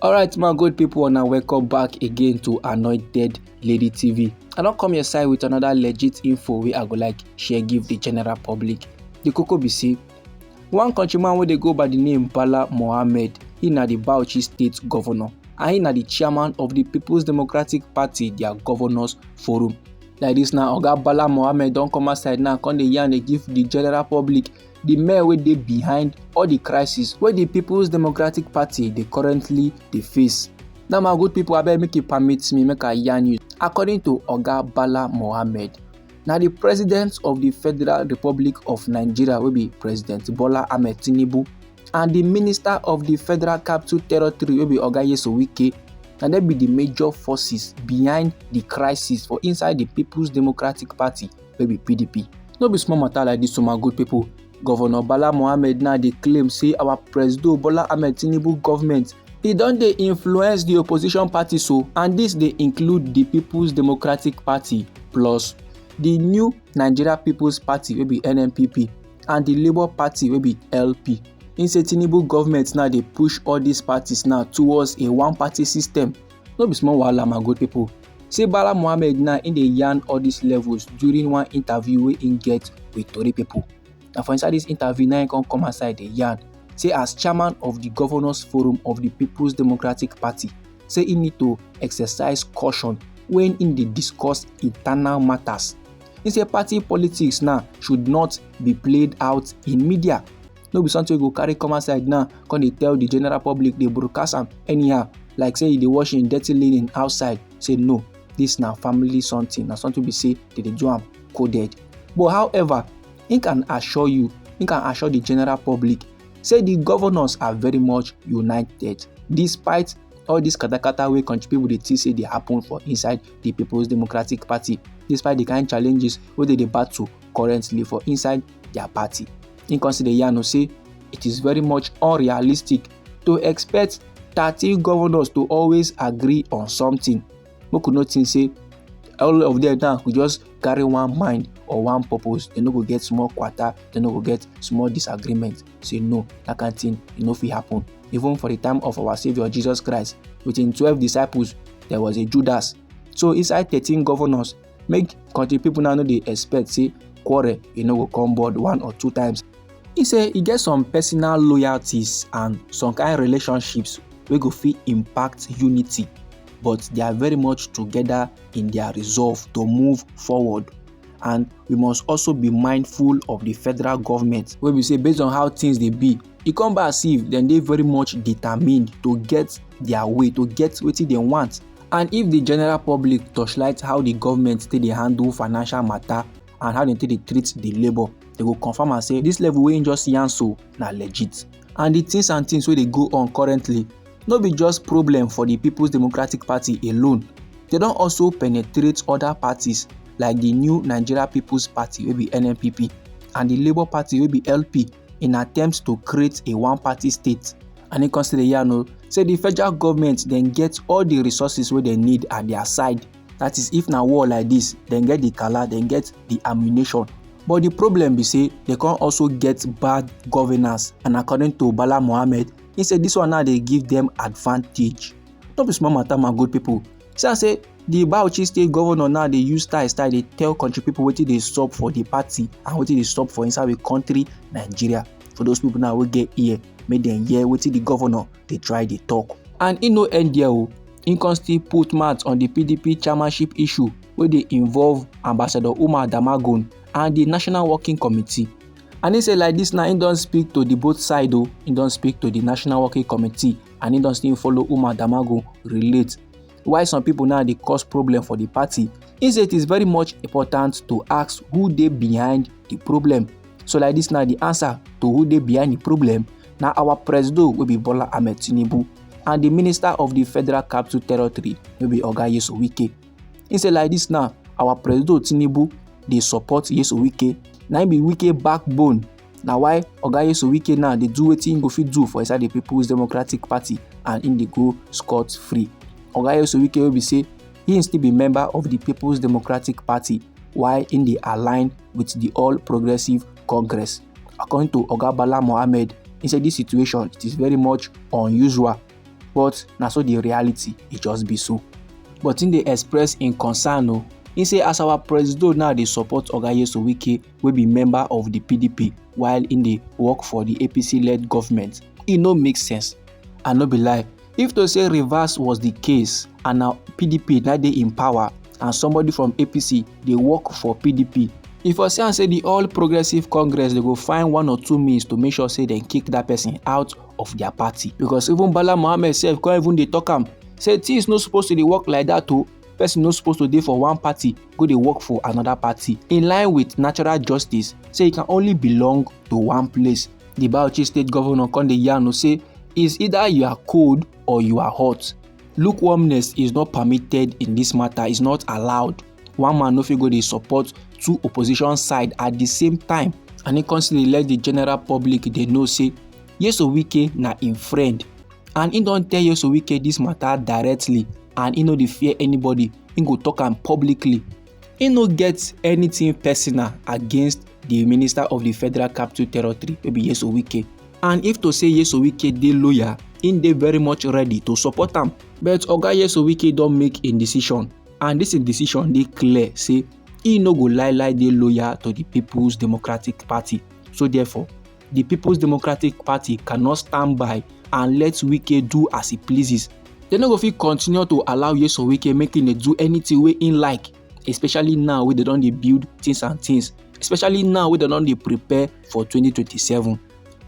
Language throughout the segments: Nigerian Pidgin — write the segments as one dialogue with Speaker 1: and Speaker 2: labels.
Speaker 1: alright my good people and welcome back again to anointed lady tv i don't come your side with another legit info we i go like share give the general public the cocoa be see one countryman where they go by the name bala mohammed he na the bauchi state governor and he na the chairman of the people's democratic party their governors forum like this now oga bala mohammed don't come outside now come the yarn they give the general public di men wey dey behind all di crisis wey di peoples democratic party dey currently dey face now my good people abeg make you permit me make i yarn you according to oga bala mohammed na di president of di federal republic of nigeria wey be president bola ahmed tinubu and di minister of di federal capital territory wey be oga yeso wike na dem be di major forces behind di crisis for inside di peoples democratic party wey be pdp no be small matter like this o my good people governor bala mohammed now dey claim say our presido bola ahmed tinubu government e don dey influence di opposition parties so and dis dey include di peoples democratic party plus di new nigeria peoples party wey be nnpp and di labour party wey be lp im say tinubu government now dey push all dis parties now towards a one party system No be small wahala my good people. Say Bala Mohammed now in the yarn all these levels during one interview wey im get with Tori people. Na for inside this interview now im come come outside the yarn say as chairman of the governors forum of the People's Democratic Party say im need to exercise caution when im dey discuss internal matters. He say party politics now should not be played out in media no be something go carry come outside now come dey tell the general public dey broadcast am anyhow like say e dey wash im dirty linen outside say no this na family something na something be say they dey do am coded but however im can assure you im can assure the general public say the governors are very much united despite all dis katakata wey country people dey think say dey happen for inside the people's democratic party despite the kind challenges wey dey dey battle currently for inside their party. He consider Yano say it is very much unrealistic to expect 13 governors to always agree on something. Make we no think say all of them now go just carry one mind or one purpose dem no go get small kwata dem no go get small disagreement say no that kind thing e no fit happen even for the time of our saviour jesus christ with him twelve disciples there was a judas so inside thirteen governors make country people now no dey expect say quarrel e no go come board one or two times He say he get some personal loyalties and some kind relationships wey go fit impact unity but they are very much together in their resolve to move forward and we must also be mindful of the federal government wey be say based on how things dey be e come be as if dem dey very much determined to get their way to get wetin dem want And if the general public torchlight how the government take dey handle financial matter and how dem take dey treat the labour, dem go confirm am say this level wey im just yarn so na legit. And the things and things wey dey go on currently no be just problem for the People's Democratic Party alone, dem don also penetrate other parties like the New Nigeria People's Party wey be NNPP and the Labour Party wey be LP. in attempt to create a one-party state and he come still dey yarn o say the federal government dem get all the resources wey dem need at their side that is if na war like this dem get the kala dem get the ammunition but the problem be say dem come also get bad governance and according to bala mohammed he say this one now dey give them advantage no be small matter my good people see am say di bauchi state governor now dey use style style dey tell country people wetin dey sup for di party and wetin dey sup for inside we country nigeria for those people now wey get ear make dem hear wetin di governor dey try dey talk. and e no end there o e come still put mouth on di pdp chairmanship issue wey dey involve ambassador umar damagun and di national working committee and e say like dis now e don speak to di both side o e don speak to di national working committee and im don still follow umar damagun relate why some people now dey cause problem for the party he say it is very much important to ask who dey behind the problem so like this now the answer to who dey behind the problem na our presido wey be bola ahmed tinubu and the minister of the federal capital territory wey be oga yesu wike he say like this now our presido tinubu dey support yesu wike na im be wike backbone na why oga yesu wike now dey do wetin he go fit do for inside the people's democratic party and he dey go scot free oga yesu wike wey be say he still be member of the people's democratic party while he dey align with the all progressive congress according to oga bala mohammed he say this situation it is very much unusual but na so the reality e just be so but he dey express im concern o he say as our presido now dey support oga yesu wike wey be member of di pdp while im dey work for di apc-led government e no make sense and no be lie if to say reverse was di case and na pdp na dey in power and somebody from apc dey work for pdp e for see am say di all progressives congress dey go find one or two means to make sure say dem kick dat person out of dia party because even bala mohammed sef come even dey tok am say tins no suppose to dey work like dat o. person no suppose to dey for one party go dey work for another party in line with natural justice say e can only belong to one place di bauchi state governor come dey yarn o say is either you are cold or you are hot lukewarmness is not permitted in this matter is not allowed one man no fit go dey support two opposition side at the same time and he constantly let the general public dey know say yeso wike na im friend and he don tell yeso wike this matter directly and he no dey fear anybody he go talk am publicly he no get anything personal against the minister of the federal capital territory wey be yeso wike and if to say yeso wike dey loyal he dey very much ready to support am but oga yeso wike don make im decision and dis im decision dey clear say he no go lie lie dey loyal to the peoples democratic party so therefore The People's Democratic Party cannot stand by and let Wike do as he pleases. They no go fit continue to allow Yeso Wike make him dey do anything wey him like, especially now wey they don dey build things and things, especially now wey they don dey prepare for 2027.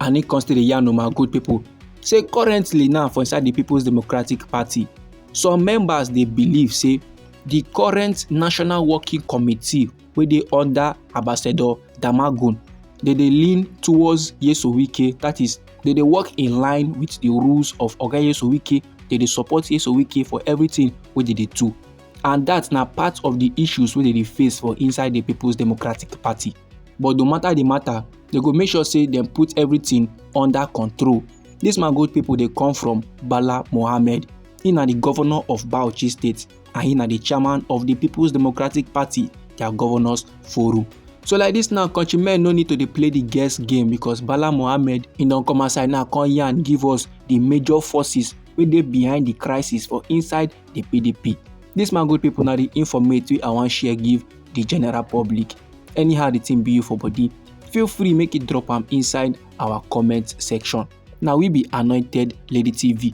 Speaker 1: And he come still dey yarn my good people say currently now for inside the People's Democratic Party, some members dey believe say the current National Working Committee wey dey under ambassador damagun they dey lean towards yeso wike that is they dey work in line with the rules of oga yeso wike they dey support yeso wike for everything wey they dey do and that na part of the issues wey they dey face for inside the people's democratic party but no matter the matter they go make sure say dem put everything under control this man good people dey come from bala mohammed he na the governor of bauchi state and he na the chairman of the people's democratic party their governors forum so like this now country men no need to dey play the guess game because bala mohammed he don come outside now come yarn give us the major forces wey dey behind the crisis for inside the pdp this man good people na the informate wey i wan share give the general public anyhow the thing be you for body feel free make you drop am inside our comment section na we be anointed lady tv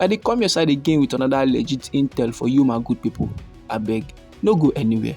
Speaker 1: I dey come your side again with another legit intel for you my good people. Abeg, no go anywhere.